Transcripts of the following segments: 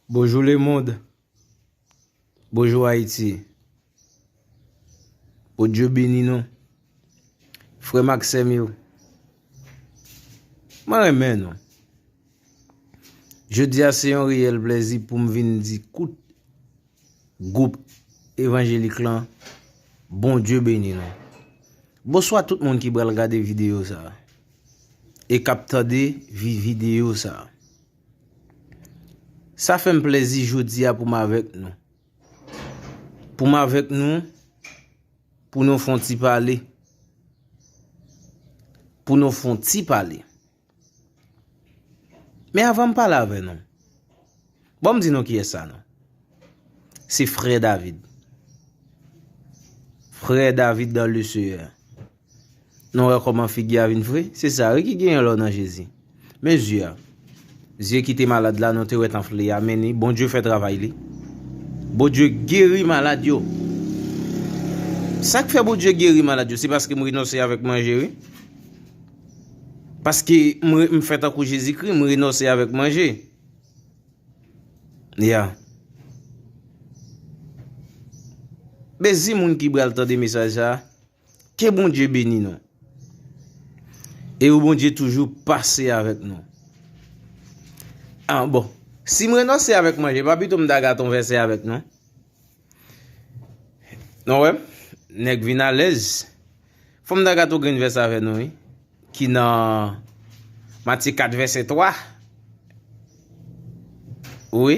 Bonjou le mond Bonjou Haïti Bondye beni nou Frèm ak sèm yo Mwen renmen nou Jodi a se yon reyèl plèzi poum vin di kout Gwoup evanjelik lan Bondye beni nou Bonswa tout moun ki pral gade videyo sa E kap tande videyo sa. Sa fè m plèzi jodi a pou m avèk nou. Pou m avèk nou, pou nou fon ti pale. Pou nou fon ti pale. Men avan m pale avè nou, bon m di nou kiyès sa nou. Se frè David. Frè David dan le seyè. Nou wè kòman figi a vin fre? Se sa wi ki genyen lè w nan Jezi. Men zye a. Zye ki te malad la nou te wè tanfle ya men ni Bondye fè travay li. Bondye geri malad yo. Sa k fè Bondye geri malad yo se paske m renonse avèk manje wi. Paske m fè tankou Jezikri, m renonse avèk manje. Ya. Mezi moun ki bral tande mesaj sa a. Ke Bondye beni nou. E ou Bondye toujou pase avèk nou. An bon. Si m renonse avèk manje pa pito m ta gate yon vèsè avèk nou. Nou wèm. Nèk vin alèz. Fòm ta gate yon grenn vèsè avèk nou wi. Ki nan Matye 4 vèsè 3. Ou wi.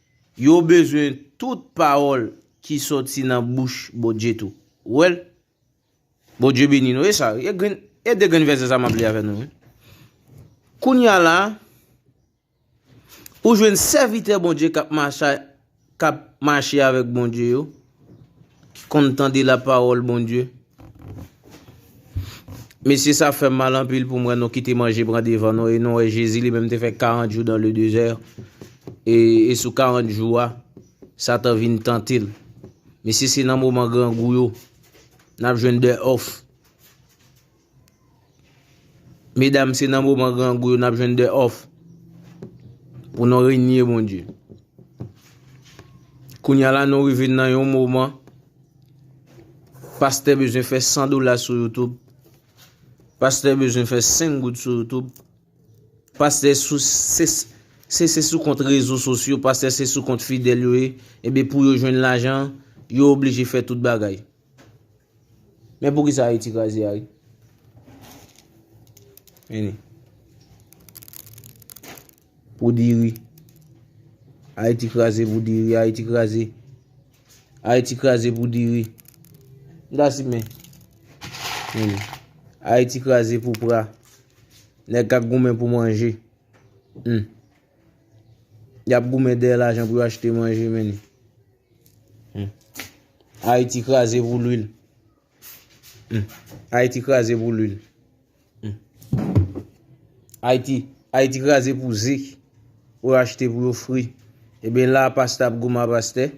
Yo bezwen tout pawòl ki sòti nan bouch Bondye tou. Ou wè l? Bondye beni nou. E sa? E grenn, e de grenn vèsè sa m ap li avè nou wi. Kounye a la, ou jwenn sèvitè Bondye k ap mache, k ap mache avèk Bondye yo. ki konn tande la parole Bondye. Mesye sa fèm mal anpil poum wè nou kite manje pran devan nou e nou wè Jezi li menm te fè 40 jou dan le dezè e sou 40 jou a satan vin tantel. Mesye se nan moman grangou yo nap jwenn de of. Medam se nan moman grangou yo nap jwenn de òf pou nou renye Bondye. Kounya la nou rive nan yon moman pastè bezwen fè 100 dola sou YouTube, pastè bezwen fè 5 goud sou YouTube, pastè se sou kont rezo sosyo, pastè se sou kont fidèl yo ye, ebe pou yo jwenn lajan, yo oblije fè tout bagay. Men pou kisa Ayiti kraze a wi. Meni. Pou diri. Ayiti kraze pou diri. Ayiti kraze. Ayiti kraze pou diri. Nda si men. Meni. Ayiti kraze pou pra. Nèk ak goumen pou manje. Meni. Yap goumen dèyè lajan pou yo achte manje men. Ayiti kraze pou lwil. Ayiti kraze pou lwil. Ayiti kraze pou ze. Ou achte pou yo fri. Ebe la pasta ap goumen ap aste.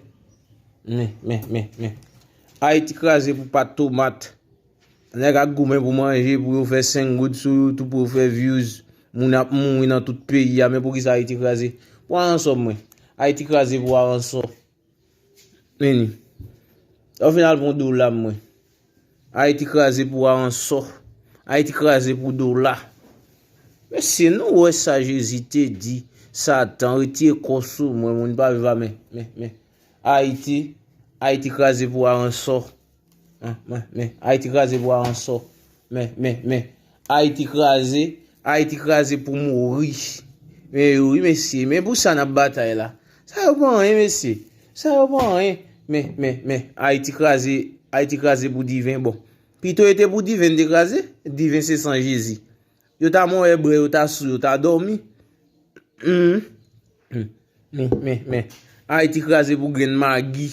Men, men, men, men. Ayiti kraze pou pat tomat. Nèg ap goumen pou manje, pou yo fè 5 goud sou youtube, pou yo fè views, moun ap mouri nan tout peyi a, men pou kisa Ayiti kraze? Pou aransò mwen. Ayiti kraze pou aransò. Meni. Lè w fin al pran dola mwen. Ayiti kraze pou aransò. Ayiti kraze pou dola. Mesye nou wè sa Jezi te di, Satan retire kò w sou mwen, mwen pa viv a men, men, men. Ayiti, Ayiti kraze pou aransò. Men, men, men, Ayiti kraze pou aransò. Men, men, men, Ayiti kraze, Ayiti kraze pou mouri. Men yo wi mesye, men pou sa nan batay la. Sa yo pa anyen mesye, sa yo pa anyen. Men, men, men, Ayiti kraze, Ayiti kraze pou diven bon. Pito e te pou diven te kraze, diven se san Jezi. Yo ta mò e bre, yo ta sou, yo ta dòmi. Men, men, men, Ayiti kraze pou grenn magi.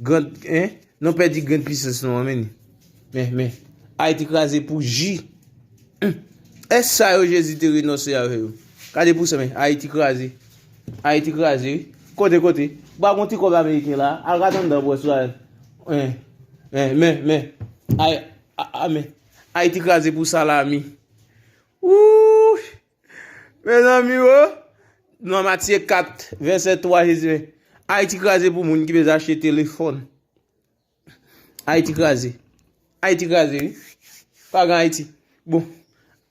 Grand hein non pèdi grenn pisans nou an men ni meh meh ayiti kraze pou ji humm est sa yo jezi te renonse avè yo gade pou sa meh ayiti kraze ayiti kraze wi kote kote ba gon ti kòb ameriken la al gad anndan bwè sou ayiti hein meh meh meh ay ah meh ayiti kraze pou salami ooh. Mezanmi o! Nan Matye 4, vèsè 3, Jezi di, Ayiti kraze pou moun ki bezwen achte telefòn. Ayiti kraze. Ayiti kraze wi. Pa gen Ayiti. Bon,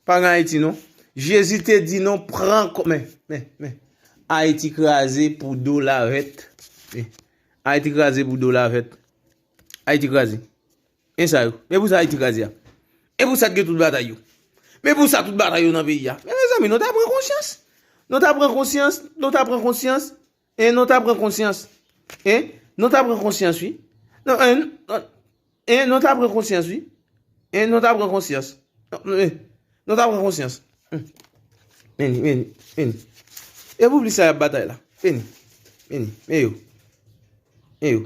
pa gen Ayiti non. Jezi te di nou pran kò. Men, men, men. Ayiti kraze pou do lavèt. Ayiti kraze pou do lavèt. Ayiti kraze. Men sa yo. Men pou sa Ayiti kraze a. Men pou sa t gen tout batay yo. Men pou sa tout batay yo nan peyi a. Men mezanmi nou ta pran konsyans. Nou ta pran konsyans. Nou ta pran konsyans. E nou ta pran konsyans. E nou ta pran konsyans wi. E nou ta pran konsyans wi. E nou ta pran konsyans. E nou ta pran konsyans. Meni, meni, meni. E pou plis sa yap batay la. Meni, meni, meni yo. Meni yo.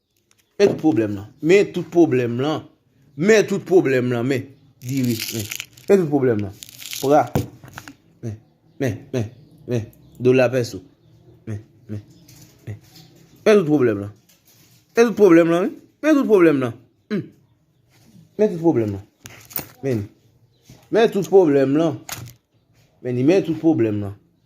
Men tout pwoblèm lan. Men tout pwoblèm lan. Men tout pwoblèm lan. Men. Diri. Men. Men tout pwoblèm lan. Pra. Men. Men. Men. Men. Dola pèso. Men. Men. Men. Men tout pwoblèm lan. Men tout pwoblèm lan. Men tout pwoblèm lan. Hum. Men tout pwoblèm lan. Men. Men tout pwoblèm lan. Men ni men tout pwoblèm lan.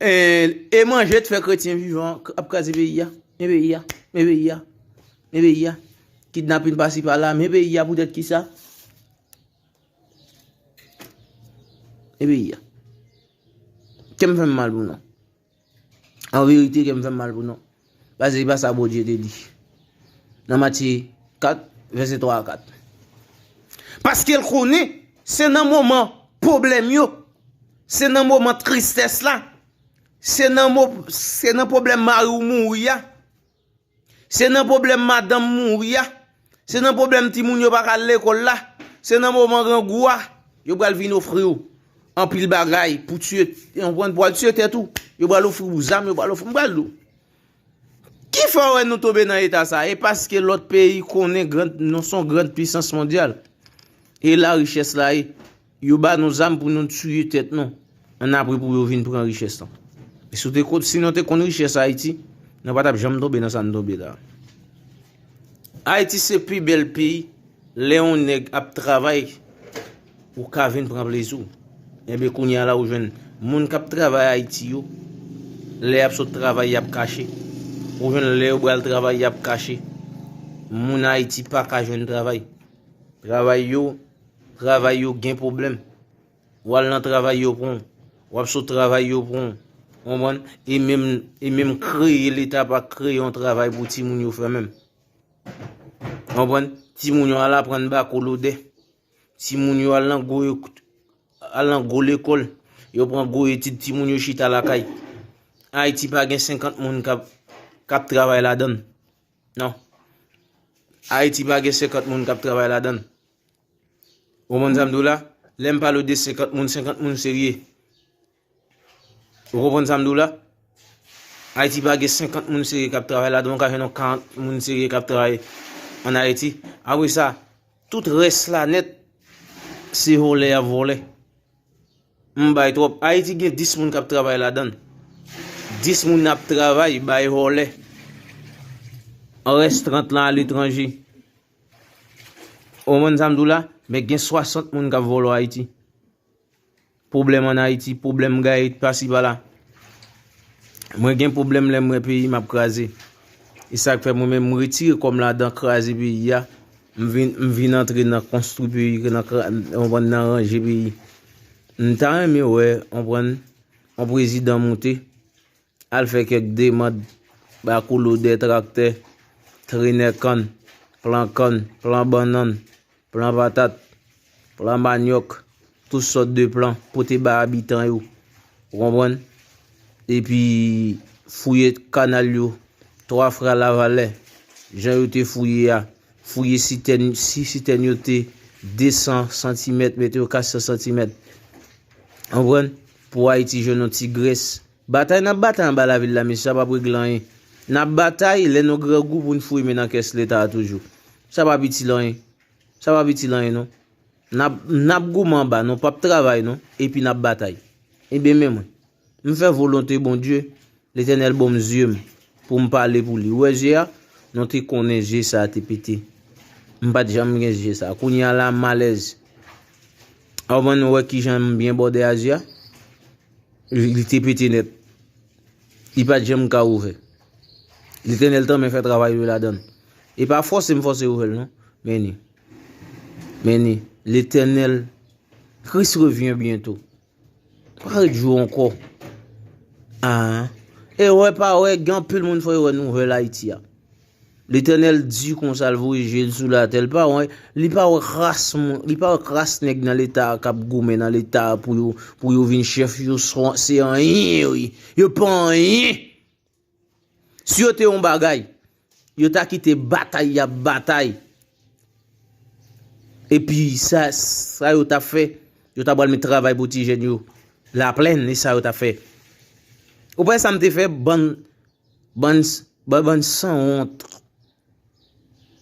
E manje t fè kretyen vivan ap kraze peyi ya, men peyi ya, men peyi ya, men peyi ya, kidnapin pasi pala, men peyi ya poutèt kisa, men peyi ya. Kèm fèm mal pou nou. An verite kèm fèm mal pou nou. Paske se pa sa Bondye te di nan Matye 4, vèsè 3 a 4. Paske l konnen se nan moman pwoblèm yo, se nan moman tristès la, se nan pwoblèm mari w mouri a, se nan pwoblèm madanm mouri a, Se nan pwoblèm timoun yo pa ka al lekòl la, se nan moman grangou a, yo pral vin ofri ou anpil bagay pou w tiye, ou konprann, pou w al tiye tèt ou. Yo pral ofri ou zam, yo pral ofri, m pral di w. Ki fè w wè nou tonbe nan eta sa? E paske lòt peyi konnen gran, nou son gran pwisans mondyal. E la richès la ye. Yo ba nou zam pou nou tuye tèt nou an apre pou yo vin pran richès lan. Si w te konn, si nou te konn richès Haiti, nou pa tap janm tonbe nan sa nou tonbe la. Haiti se pi bèl peyi lè yon nèg ap travay ou ka vin pran plezi w. Enben kounya la ou jwenn moun kap travay Haiti yo, lè yap sot travay yap kache. Ou jwenn lè yo bal travay yap kache. Moun Haiti paka jwenn travay. Travay yo. Travay yo gen pwoblèm. Ou al nan travay yo pran w. Ou ap sot travay yo pran w. Ou konprann? E menm, e menm kreye leta pa kreye yon travay pou timoun yo fè menm. Ou konprann? Timoun yo al aprann bako lodè. Timoun yo al nan gwo, al nan gwo lekòl. Yo pran gwo etid timoun yo chita lakay. Ayiti pa gen 50 moun k ap, k ap travay ladan l. Non. Ayiti pa gen 50 moun kap travay ladann. Ou konprann sa m di w la? Lè m pale w de 50 moun, 50 moun serye. Ou konprann sa m di w la? Ayiti pa gen 50 moun serye kap travay ladann. Ou ka jwenn yon 40 moun serye kap travay an Ayiti. Apre sa, tout rès la nèt se volè yap volè. Humm bay trop. Haiti gen 10 moun kap travay ladann. 10 moun ap travay bay vòlè. Rès 30 lan a letranje. Ou konprann sa m di w la? Men gen 60 moun kap vòlò Haiti. Pwoblèm an Haiti, pwoblèm gaye pasi pala. Mwen gen pwoblèm lè m wè peyi m ap kraze. E sak fè mwen menm m retire kò m ladan kraze peyi a. M vin m vin antre nan konstwi peyi ke nan kra ou konprann nan ranje peyi. M ta renmen wè ou konprann yon prezidan moute al fè kèk demand ba kou lodè traktè, trenè kann, plan kann, plan bannann, plan patat. Plan manyòk, tout sòt de plan pou te bay abitan yo. Ou konprann? Epi fouye kanal yo, twa frè Lavalè, jan yo te fouye a, fouye sitèn, si sitèn yo te 200 santimèt, mete yo 400 santimèt. Ou konprann? Pou Ayiti jwenn yon ti grès. Batay n ap batay anba lavil la, mesye, sa p ap regle anyen. N ap batay, lè nou grangou pou n fouye men nan kès Leta a toujou. Sa p ap itil anyen. Sa pap itil anyen non. Nap goumen anba nou pap travay non epi nap batay. Ebyen men mwen. M fè volonte Bondye, Letènèl bonm zye m poum pale pou li. Ou wè je a? Nou te konnen je sa te pete. M pat janm gen je sa. Kounya la m alèz. Ou konprann ou wè kijan m byen bòde a je a? Li te pete nèt. Li pa t janm ka ouvè. Letènèl tanmen fè travay li ladan l. E pa fòse m fòse ouvè l non. Men ni. Men ni. Letènèl. Kris revyen byento. Pa ret jou ankò. Aa. Ewè pa wè gen anpil moun fò yo wè nouvèl Ayiti a. Letènèl di konsa l voye je l sou latè l pa wè li pa wè kras moun li pa wè kras nèg nan leta a kap goumen nan leta a pou yo pou yo vin chèf yo se anyen yo ye yo pa anyen si yo te yon bagay yo ta kite batay yap batay epi sa sa yo tap fè yo ta pral met travay pou ti jèn yo laplèn e sa yo tap fè ou pa wè sa m te fè bann Bann bann sanwont.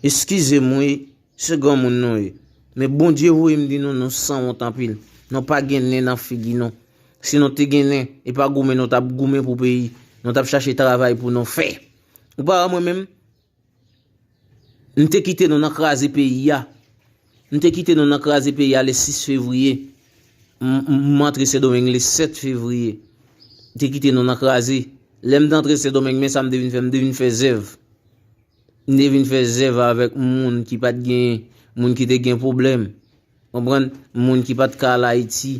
Eskizem wi se granmoun nou ye men Bondye voyem di nou nou sanwont anpil nou pa gen nen nan figi nou si nou te gen nen epa goumen nou tap goumen pou peyi nou tap chache travay pou nou fè ou pa wè mwen menm M te kite nou nan kraze peyi a. M te kite nou nan kraze peyi a le 6 fevriye. M antre Sendomeng le 7 fevriye. M te kite nou nan kraze. Lè m te antre Sendomeng men sa m te vin fè. M te vin fè zèv. M te vin fè zèv avèk moun ki pat gen, moun ki te gen pwoblèm. Moun ki pat ka al Ayiti.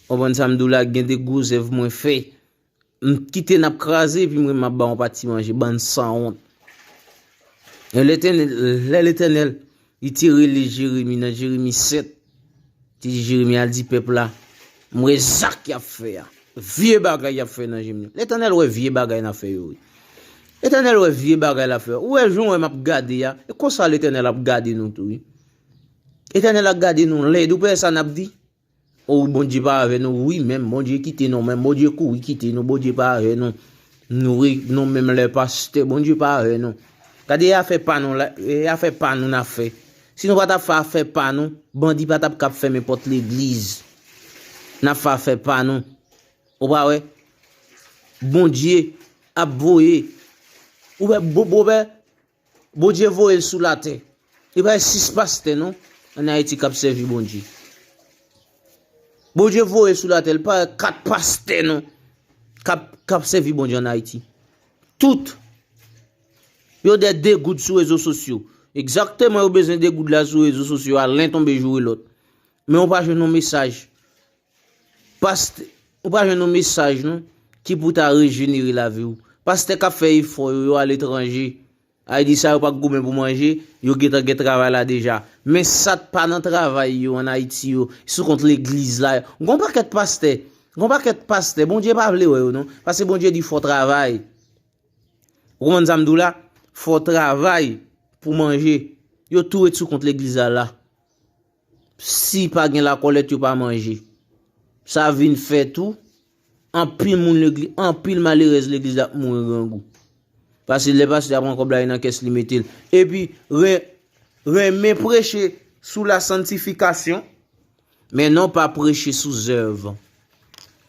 Moun sa m di w la gen de gwo zèv mwen fè. M t kite nap kraze epi m renmen map baw pati manje bann sanwont. Lè Letènèl li te rele Jeremi nan Jeremi 7, li te di Jeremi al di pèp la, m wè zak yap fè a, vye bagay yap fè nan je m yo. Letènèl wè vye bagay nan fè yo wi. Letènèl wè vye bagay lap fè yo. Ou wè jan ou wè map gade a, e konsa Letènèl ap gade nou tou wi. Letènèl ap gade nou lèd, ou pa wè sa nap di? Ooh bondye pa avè nou wi menm bondye kite nou menm bondye kouri kite nou bondye pa avè nou nou re nou menm lè pastè bondye pa avè nou gade afè pa nou la e afè pa nou nap fè si nou patap fè afè pa nou bandi patap kap fèmen pòt legliz nap fè afè pa nou ou pa wè bondye ap voye ou wè bobobè Bondye voyel sou latè. Li pa gen 6 pastè non an ayiti kap sèvi Bondye. Bondye voyel sou latè li pa gen 4 pastè non kap sèvi Bondye an ayiti. Tout yo dè degoud sou rezo sosyo. Ekzakteman yo bezwen degoud la sou rezo sosyo a len tonbe joure lòt. Men ou pa jwenn yon mesaj Past, Ou pa jwenn yon mesaj non, ki pou ta rejenere lavi w. Pastè kap fè efò yo, yo aletranje. Ayiti sa yo pa k goumen pou manje, yo gentan gen travay la deja. Men sa k pa nan travay yo an Ayiti yo, sou kont legliz la. Gon pakèt pastè, gon pakèt pastè, Bondye pa vle wè yo non. Paske Bondye di fò travay. Ou konprann sa m di w la? Fò travay pou manje. Yo tou ret sou kont legliz la la. Si pa gen lakòlèt yo pa manje. Sa vin fè tou, anpil moun legliz, anpil malerèz legliz la ap mouri grangou. Pase lè pastè a pran kòb la li nan kès li mete l. Epi renmen preche sou la santifikasyon, men non pa preche sou zèv.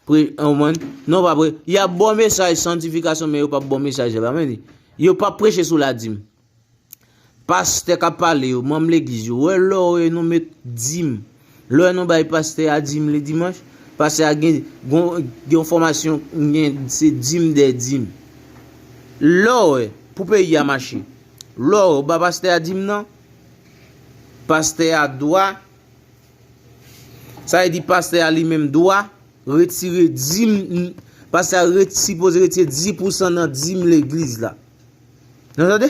Y ap ba w mesaj santifikasyon men yo pap ba w mesaj zèv. Yo pap preche sou ladim. Pastè kap pale yo, manm legliz yo, wè lò wè nou met dim, lò wè nou bay pastè a dim le dimanch, pastè a gen yon fòmasyon gen se dim dè dim. Lò wè pou peyi a mache, lò wè ou ba pastè a dim nan, pastè a dwa, sa e di pastè a li menm dwa, retire dim, pastè a sipoze retire di pousan nan dim legliz la. Nou tande?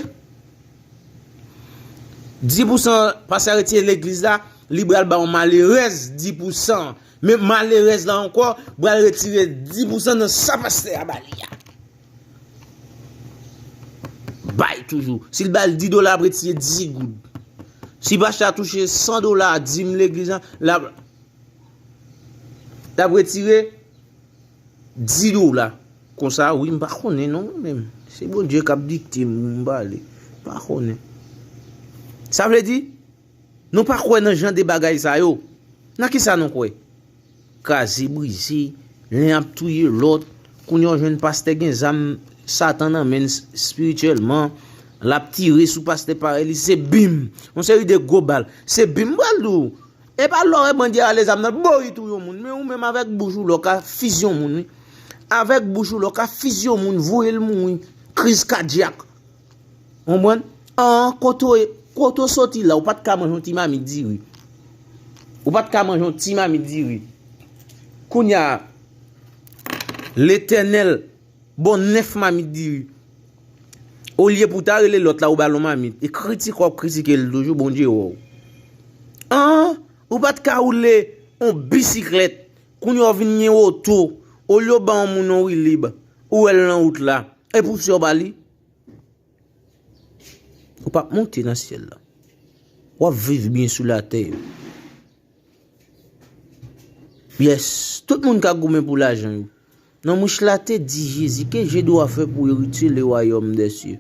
Di pou san pa sa retire legliz la, li bral ba yon malerèz di pou san. Men malerèz la ankò bral retire di pou san nan sa pastè a ba li a. Bay toujou. Si l ba l di dola ap retire di goud. Si pastè a touche san dola di m legliz la, l ap retire. 10 dola konsa wi m pa konnen non mwen menm se Bondye kap dikte m m pale m pa konnen sa vle di nou pa kwè nan jan de bagay sa yo nan kisa nou kwè kraze brize len ap touye lòt kounye w jwenn pastè gen zam satan nan menn spirityèlman lap tire sou pastè parèy li se bim yon seri de gwo bal se bim m pral di w Epa lò e bandye rale zam nan boo li touye yon moun men ou menm avèk bouch ou lò ka fizi yon moun wi avèk bouch ou lò ka fizi yon moun voye l mouri kriz kadyak ou konprann an kote w kote w soti la ou pat ka manje yon ti mamit diri ou pat ka manje yon ti mamit diri kounya letènèl. Bon 9 mamit diri. Olye pou ta rele lot la ou bal yon mamit e kritike wap kritike l toujou Bondye wè w. An! Ou pat ka woule yon bisiklèt kounye w vin gen oto olye w ban yon moun yon wilib ou wè l nan wout la e pousye w ba li? Ou pap monte nan syèl la. Wap viv byen sou latè. Yes, tout moun ka goumen pou lajan yo. Nan mouche la te di Jezi, Ke je dwa fè pou eritye le wayòm dè sye?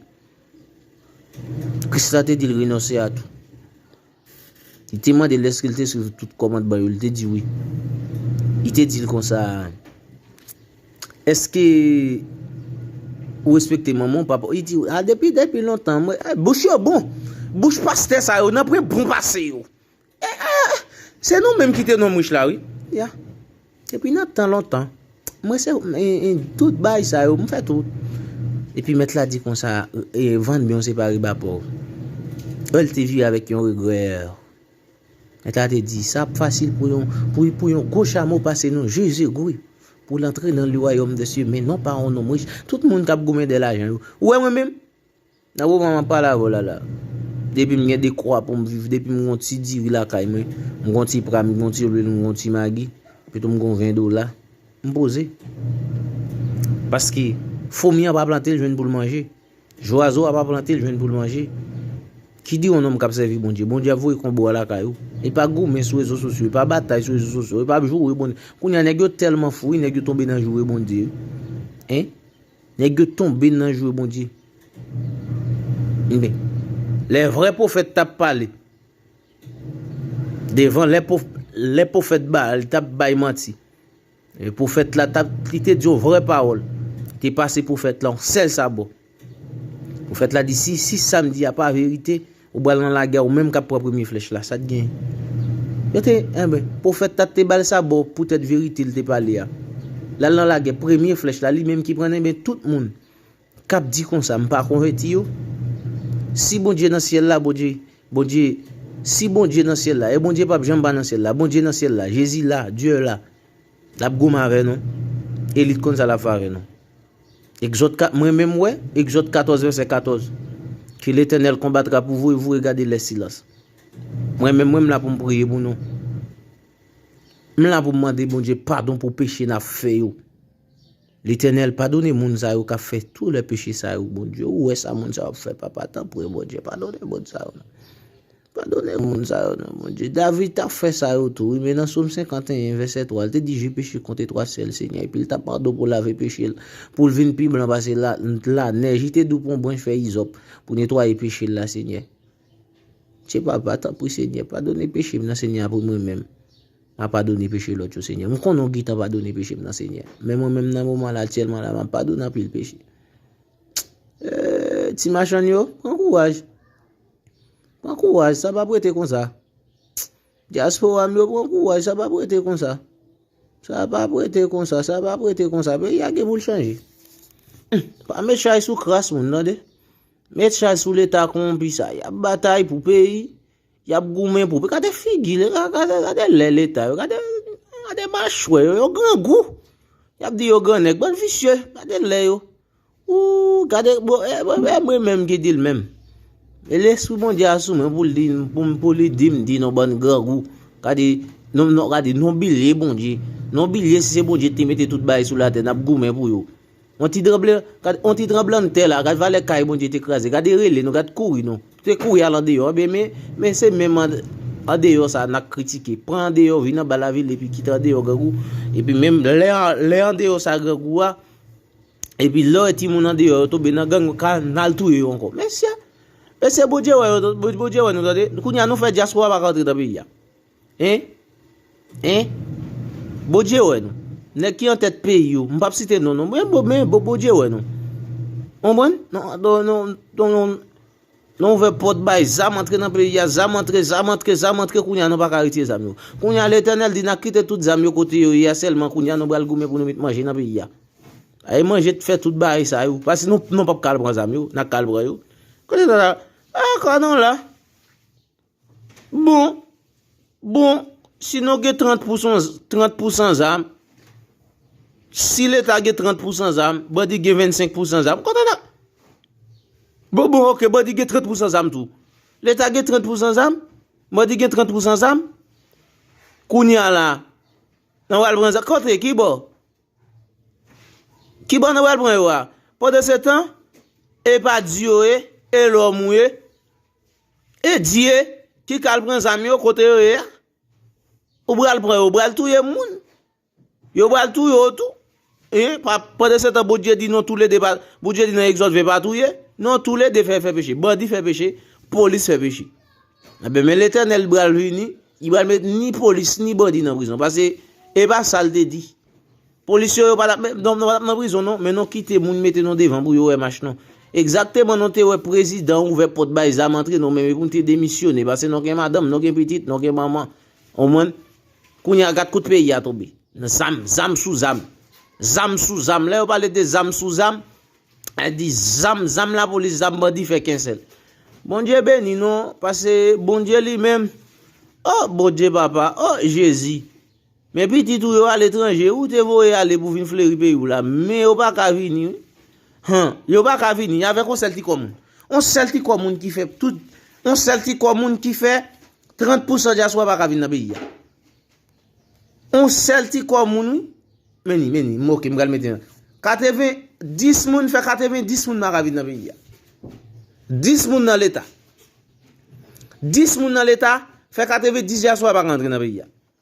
Kris la te di l renonse a tou. Li te mande l èske l te swiv tout kòmandman yo, li te di wi. Li te di l konsa, Èske ou respekte manman ou, papa ou? Li di, A depi depi lontan, mwen, bouch yo bon! Bouch pastè sa yo, nan pre bon pase yo! Eeh! Se nou menm ki te nonm rich la wi. Ya. Epi nan tan lontan, mwen se tout bay sa yo, m fè tout. Epi mèt la di konsa, vann byen w se pa riba pòv. Eeh l te vire avèk yon regrè. Mèt la te di, sa ap fasil pou yon, pou yon gwo chamo pase nou je zegwi pou l antre nan le wayòm dè sye men non pa yon nonm rich. Tout moun k ap goumen de lajan yo. Ou wè mwen menm? Nan moman map pale avèw la la depim gen dekwa poum viv depim gon ti diri lakay mwen m gon ti pra m gon ti lwil m gon ti magi epitou m gon 20 dola m poze paske fomi an pa plante l jwenn poul manje zwazo a pa plante l jwenn poul manje ki di yon nonm kap sèvi Bondye Bondye ap voye konbo a lakay ou li pa goumen sou rezo sosyo li pa batay sou rezo sosyo li pap joure Bondye kounya nèg yo tèlman fou wi nèg yo tonbe nan joure Bondye wi en Nèg yo tonbe nan jwe Bondye. Ebyen, lè vrè pwofèt tap pale devan lè pwofèt Baal tap bay manti. E pwofèt la tap li te di yon vrè pawòl, li te pase pwofèt la yon sèl sabò. Pwofèt la di si si sam di a pa verite, Ou pral nan lagè ou menm kap pran premye flèch la sat gen yo te enben profèt tat te bal sa boo poutèt verite li te pale a lal nan lagè premye flèch la li menm ki prann enben tout moun kap di konsa m pa konvèti yo si bondye nan syèl la bondye bondye si bondye nan syèl la e bondye pap janm pa nan syèl la bondye nan syèl la jezi la Dieu la. Lap goumen avè nou. Elit konn sa lap fè avè nou. Egzòd 4, mwen menm wè, Egzòd 14 vèsè 14, Ke Letènèl konbatra pou vou e vou regade lè silans. Mwen menm mwen m la pou m priye pou nou. M la pou m mande Bondye padon pou peche na fè yo. Letènèl padone moun sa yo kap fè tou lè peche sa yo Bondye ou wè sa moun sa yo ap fè papa tanpri Bondye padone moun sa yo. Padone moun sa yo non Bondye. David t ap fè sa yo tou wi, men nan Som 51 vèsè 3 l te di je peche kont etwasèl Senyè epi l t ap padon pou lave peche l pou l vin pi blan pase lanèj li te dou pran branch fèy izòp pou netwaye peche l la Senyè Che papa tanpri Senyè padone peche m nan Senyè apre mwen menm m a padone peche lòt yo Senyè m konnen w gintan padone peche m nan Senyè men mwen menm nan moman la aktyèlman la m ap padone anpil peche eeee ti machann yo pran kouraj. Pran kouraj sa pap rete konsa. Diaspora m yo pran kouraj sa pap rete konsa. Sa pap rete konsa, sa pap rete konsa. Peyi a gen pou l chanje. Pa met chay sou kras moun tande. Met chay sou leta konpi sa. Yap batay pou peyi. Yap goumen pou peyi. Kade figi le, kade le leta yo. Kade machwe yo, yo grangou. Yap di yo gran nèk, bann visye. Kade le yo. Ooh gade bon e mwen menm ki dil menm e lespri Bondye a sou mwen poul dim pou li dim di nou bann grangou gade nou bilye Bondye nou bilye si se Bondye ki te mete tout bagay sou latè nap goumen pou yo on ti tranblann tè la gade valè kay Bondye te kraze gade rele nou gade kouri nou se kouri al andeyò ebyen men se menm andeyò sa nap kritike pran andeyò vin anba lavil epi kite andeyò grangou epi menm lè andeyò sa grangou a Epi lè w wè timoun andeyò yo tonbe nan gang yo ka nal touye yo ankò. Mesye! Mesye Bondye wè yo tonbe Bondye wè nou tande. Kounya nou fè dyaspora pa ka antre nan peyi a. Hein? Hein? Bondye wè nou. Nèg ki an tèt peyi yo. M pap site non non. Men Bondye wè nou. Konprann? Non non non. Nou ouvè pòt bay zam antre nan peyi a, zam antre, zam antre, zam antre kounye a nou pa ka retire zam yo. Kounye a Letènèl di na kite tout zam yo kote yo ye a sèlman kounye a nou pral goumen pou nou met manje nan peyi a. Ae manje t fè tout bagay sa yo, paske nou nou pap ka al pran zam yo, na ka al pran yo. Kote sa la? Ae ka nou la. Bon, bon, si nou gen 30 pousan, 30 pousan zam, si leta gen 30 pousan zam, bandi gen 25 pousan zam, kote nan? Bon, bon, ok, bandi gen 30 pousan zam tou. Leta gen 30 pousan zam, bandi gen 30 pousan zam, kouni ala, nan wal pran zam, kote, ki bo? Ki bo nan wal pran yo a? Pwede se tan, e pa di yo e, e lò mou e, E Dieu ki kal pran zam yo kote yo ye a? Ou pral pran yo pral touye moun. Yo pral touye ou tou. Hein? Pendant ce temps Bondye di non tou le de pa Bondye di nan Exode 20 pa touye. Non tou le de fè fè peche. Bandi fè peche, polis fè peche. Eh ben men Letènèl pral vini, li pral met ni polis ni bandi nan prizon. Pase e pa sa l te di. Polis yo yo pa tap met non nan prizon non men non kite moun mete non devan pou yo wè mach non egzakteman non te wè prezidan ouvè pòt bay zam antre non men men poun te demisyone pase non gen madanm non gen pitit non gen manman ou mwen kounya gat kout peyi a tonbe nan zam zam sou zam zam sou zam lè yo pale de zam sou zam a di zam zam la polis zam bandi fè kensèl bondye beni non pase bondye li menm oh bondye papa oh jezi. Men pitit ou yo aletranje ou te voye ale pou vin fleri peyi w la, men yo pa ka vini wi. Han, yo pa ka vini, avèk yon sèl ti kò moun. Yon sèl ti kò moun ki fè tout, yon sèl ti kò moun ki fè 30 pousan dyaswa pa ka vin nan peyi a. Yon sèl ti kò moun wi. Men ni, men ni, m oke, m pral mete nan. 80, 10 moun fè 80, 10 moun pa ka vin nan peyi a. 10 moun nan leta. 10 moun nan leta fè 80, 10 dyaswa pa ka antre nan peyi a.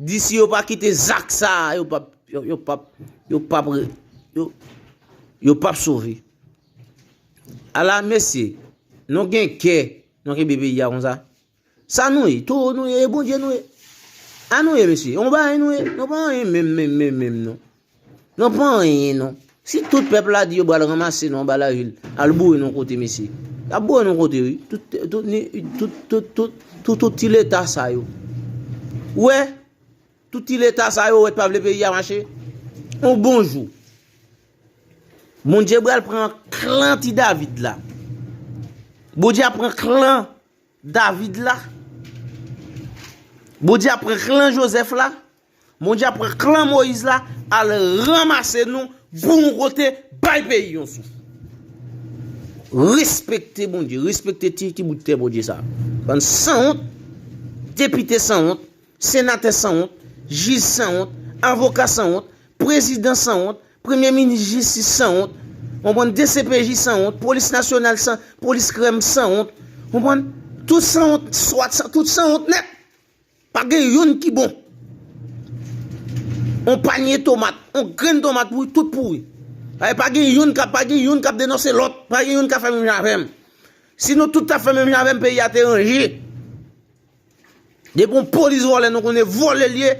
Di si yo pa kite zak sa a, yo pap, yo pap, yo pap, yo, yo pap sove. A la mesye, nou gen kè, nou kenbe peyi a konsa. Sa nou ye, towo nou ye, e Bondye nou ye. A nou ye mesye, yon bagay nou ye, nou pa anyen menm menm menm menm non. Nan pa anyen non. Si tout pèp la di yo bal ranmase nou anba lavil, al boure nou kote mesye. Yap boure nou kote wi. Tout tout ni tout tout tout tout tout ti leta sa yo. Ou wè? Tout ti leta sa yo ou wè t pa vle peyi a mache? On bon jou. Bondye bral pran klan ti David la. Bondye ap pran klan David la. Bondye ap pran klan Joseph la. Bondye ap pran klan Moïse la al ranmase nou pou yon kote bay peyi yon souf. Respekte Bondye, respekte ti ti bout tè Bondye sa. Bann sanwont, depite sanwont, senatè sanwont, jij sanwont, avoka sanwont, prezidan sanwont, premye minis jistis sanwont, konprann dcpj sanwont, polis nasyonal san, polis krèm sanwont, konprann, tout sanwont, swat san, tout sanwont nèt. Pa gen yonn ki bon. On panye tomat, on grenn tomat pouri, tout pouri. Ay pa gen yonn kap, pa gen yonn kap denonse lòt, pa gen yonn kap fè menm jan avèm. Si nou tout tap fè menm jan avèm peyi a te ranje. Depi on polis vòlè nou konnen vòlè li ye,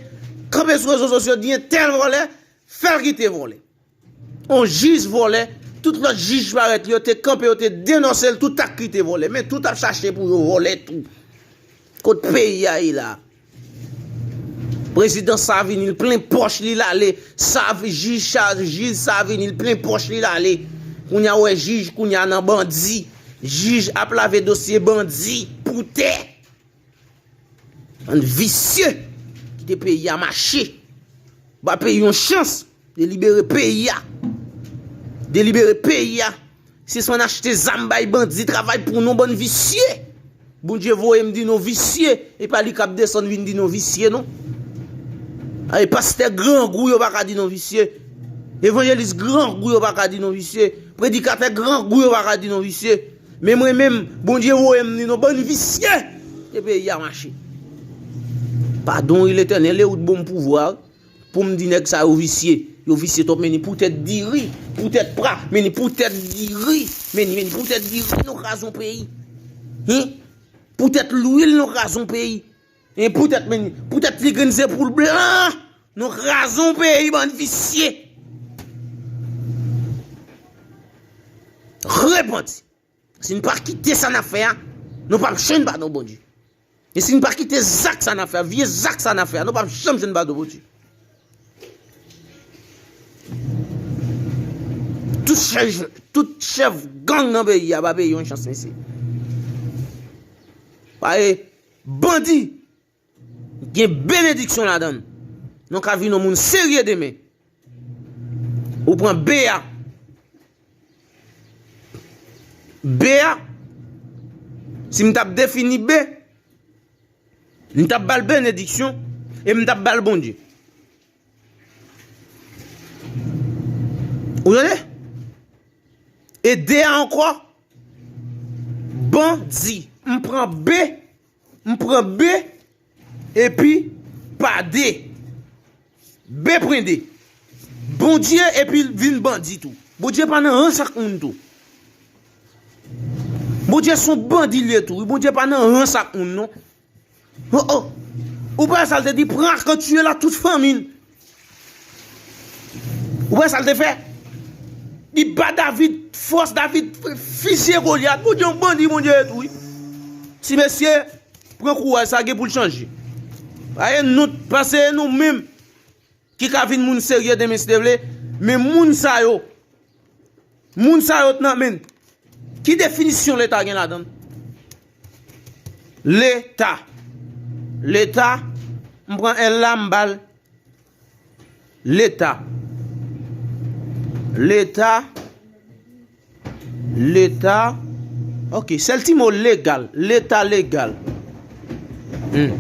kanpe sou rezo sosyo di entèl vòlè, fèl kite vòlè. On jij vòlè, tout lòt jij parèt yo te kanpe yo te denonse l tout ak li te vòlè men tout ap chache pou yo vòlè tou kot peyi a ye la prezidan sa vini l plen pòch li l ale jij sa jij sa vini l plen pòch li l ale kounye a wè jij kounye a nan bandi jij ap lave dosye bandi pou tè. Bann visye kite peyi a mache. Ba peyi yon chans. Delibere peyi a. Delibere peyi a. Sispann achte zam bay bandi travay pou nou bann visye. Bondye voye m di nou visye. E pa li kap desann vin di nou visye non. A e pastè grangou yo pa ka di nou visye. Evanjelis grangou yo pa ka di nou visye. Predikatè grangou yo pa ka di nou visye. Men mwen menm bondye voyem ni non bann visye e peyi a mache padon wi letènèl ew t bonm pouvwa poum di nèg sa yo visye yo visye twòp meni pou tèt diri pou tèt pra meni pou tèt diri meni meni pou tèt diri nou kraze yon peyi hum pou tèt lwil nou kraze yon peyi. E poutet men poutet tigrin se poul blan nou kraze yon peyi bann visye repanti si nou pa kite sa nap fè a nou pap jwenn padon Bondye e si nou pa kite zak sa nap fè a vye zak sa nap fè a nou pap janm jwenn padon Bondye tout chèf gang nan peyi a pa peye yon chans mesye. Bandi! Gen benediksyon ladan l. Ou ka vin yon moun serye demen. Ou pran be a. Be a, si m t ap defini be, m t ap ba l benediksyon e m t ap ba l Bondye. Ou tande? E 2 a ankò, bandi. M pran B, m pran B, epi pa D. B pran D. Bondye epi l vin bandi tou. Bondye pa nan rans ak moun tou. Bondye son bandi l ye tou. Bondye pa nan rans ak moun non. Oh oh Ou pa wè sal te di pran arko tiye l ak tout fanmi l Ou pa wè sal te fè Li ba David fòs David fizye Goliath Bondye yon bandi Bondye ye tou wi Ti mesye pran kouraj sa gen pou l chanje Pase nou menm Ki ka vin moun serye demen si Dye vle, men moun sa yo, moun sa yo t nan men, ki definisyon leta gen ladann? Leta, leta, m pran L la m ba l, leta, leta. Leta ok sèl ti mo legal leta legal humm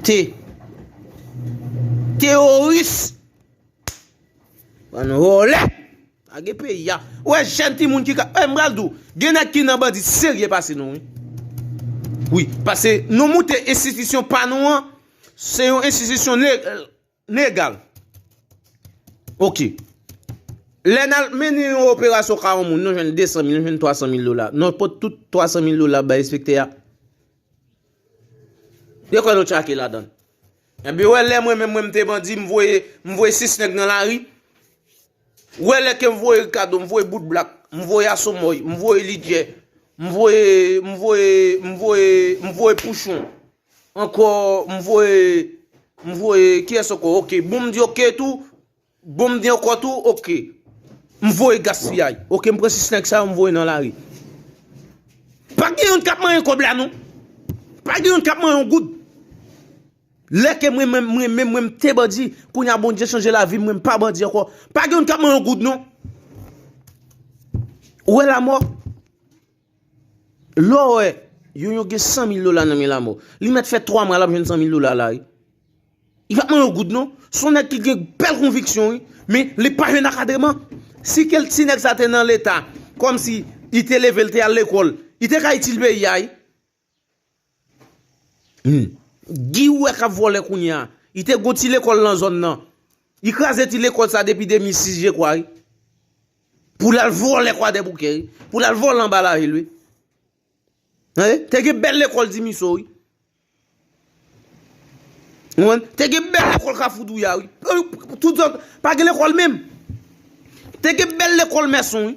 t teworis bann vòlè lage peyi a ou wè jèn ti moun ki ka m pral di w gen nèg ki nan bandi serye pase nou wi wi pase nou moute enstitisyon pa nou an se yon enstitisyon Legal. Ok. Lè nan mennen yon operasyon ka yon moun, nou jwenn 200 mil, nou jwenn 300 mil dola. Nou pot tout 300 mil dola bay enspektè a. Yo kwè nou tchake la dan. E bi wè lè mwen men mwen mte bandi, m voye, m voye 6 nèg nan lari. Wè lè ke m voye Ricardo, m voye bout blak, m voye asomoy, m voye lidye, m voye, m voye, m voye, m voye pouchon. Ankò m voye m voye kiyès ankò ok bon m di ok tou bon m di ankò tou ok m voye gaspiyay ok m pran 6 nèg sa yo m voye nan lari pa gen youn k ap manyen kòb la non pa gen youn k ap manyen yon goud lè ke mwen menm mwen menm mwen m te bandi kounye a Bondye chanje lavi m mwen m pa bandi ankò pa gen youn k ap manyen yon goud non ou wè lamò. Lè w wè yon yo gen 100 mil dola nan men lamò, li mèt fè 3 mwa l ap jwenn 100 mil dola la wi. Li pa p man yon goud non. Se yon nèg ki gen bèl konviksyon wi. Men li pa jwenn akadreman. Si kel ti nèg sa te nan leta, kòmsi li te leve, li te al lekòl, li te ka itil peyi a wi. Guy ou wè kap vòlè kounye a. Li te gon ti lekòl nan zòn nan. Li kraze ti lekòl sa depi 2006 je kwa wi. Pou lal vòlè kwadèboukè wi. Pou lal vòlè anba lavil wi. Te gen bèl lekòl dimiso wi. Te gen bèl lekòl kafou douya wi. Pa gen lekòl menm. Te gen bèl lekòl mèson wi.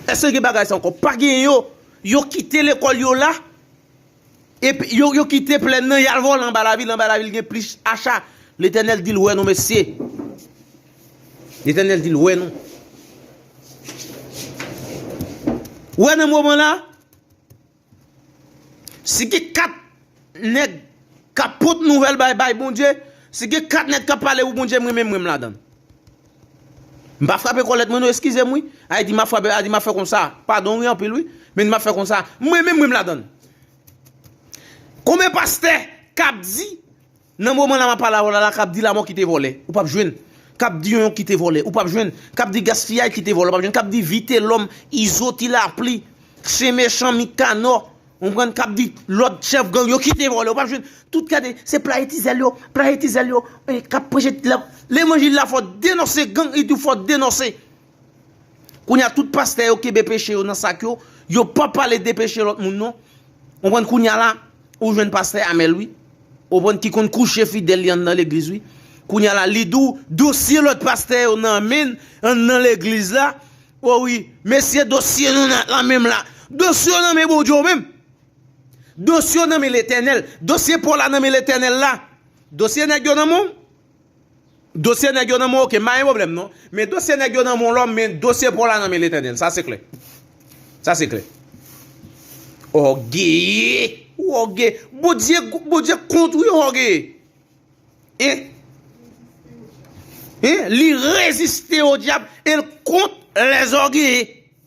Eske gen bagay sa ankò? Pa gen yo. Yo kite lekòl yo la. Yo kite plèn nan yal vòlè anba lavil. Anba lavil gen plis acha. Letènèl dil wè nou mesye. Letènèl dil wè nou. Wè nan moman la. Si gen 4 nèg kap pot nouvèl bay bay Bondye, si gen 4 nèg kap pale pou Bondye mwen menm mwen ladann. M pa frape kòlèt mwen non eskize m wi. Ay di m ap frape, ay di m ap fè konsa. Padon wi anpil wi. Men di m ap fè konsa. Mwen menm mwen ladann. Konbyen pastè kap di Nan moman la map pale avèw la la kap di lamò kite vòlè ou pap jwenn kap di yonyon kite vòlè ou pap jwenn kap di gaspiyay kite vòlè ou pap jwenn kap di vitelòm izo ti lapli chen mechan mikanò ou konprann kap di lòt chèf gang yo kite vòlè ou pap jwenn tout gade se playe ti zèl yo playe ti zèl yo kap preche levanjil la fò denonse gang itou fò denonse. Kounye a tout pastè yo kenbe peche yo nan sak yo, yo pa pale de peche lòt moun non. Ou konprann kounye a la, ou jwenn pastè Amel wi. Ou konprann ki konn kouche fidèl li anndan legliz wi. Kounye a la li di w dosye lòt pastè yo nan men anndan legliz la, o wi, mesye dosye nou nan la menm la. Dosye w nan men Bondye w menm. Dosye w nan men Letènèl. Dosye Paul la nan men Letènèl la. Dosye nèg yo nan men w. Dosye nèg yo nan men w oke, m pa gen pwoblèm non. Men dosye nèg yo nan men w lòm, men dosye pa w la nan men Letènèl. Sa se klè. Sa se klè. Ògeye! Ou ògeye! Bondye, Bondye kont ou yo ògeye! Hein? Hein? Li reziste odyab e l kont lèzògeye!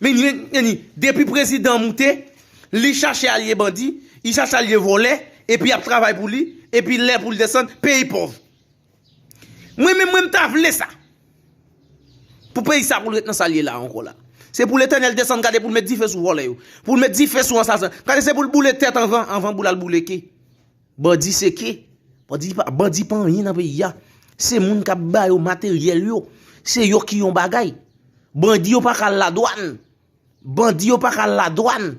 Meni, depi prezidan an moute, li chache alye bandi, li chache alye vòlè, epi yap travay pou li, epi lè pou li desann, peyi pòv. Mwen menm, mwen mta vle sa. Pou peyi sa pou l ret nan sa l ye la ankò la. Se pou letènèl desann gade pou l met dife sou vòlè yo. Pou l met dife sou ansasen. Gade se pou l boule tèt anvan, anvan pou l al boule ke. Bandi se ke? Bandi pa anyen nan peyi a. Se moun k ap ba yo materyèl yo. Se yo ki yon bagay. Bandi yo pa ka al ladwann. Bandi yo pa ka al ladwann.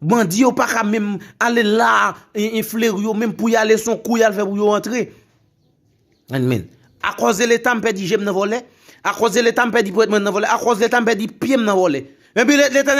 Bandi yo pa ka menm ale la en fleri yo menm pou y ale son kou y al fè pou yo antre. An men. A kòz de leta m pèdi je m nan vòlè. A kòz de leta m pèdi pwèt mwen nan vòlè. A kòz de leta m pèdi pye m nan vòlè. Epi leta.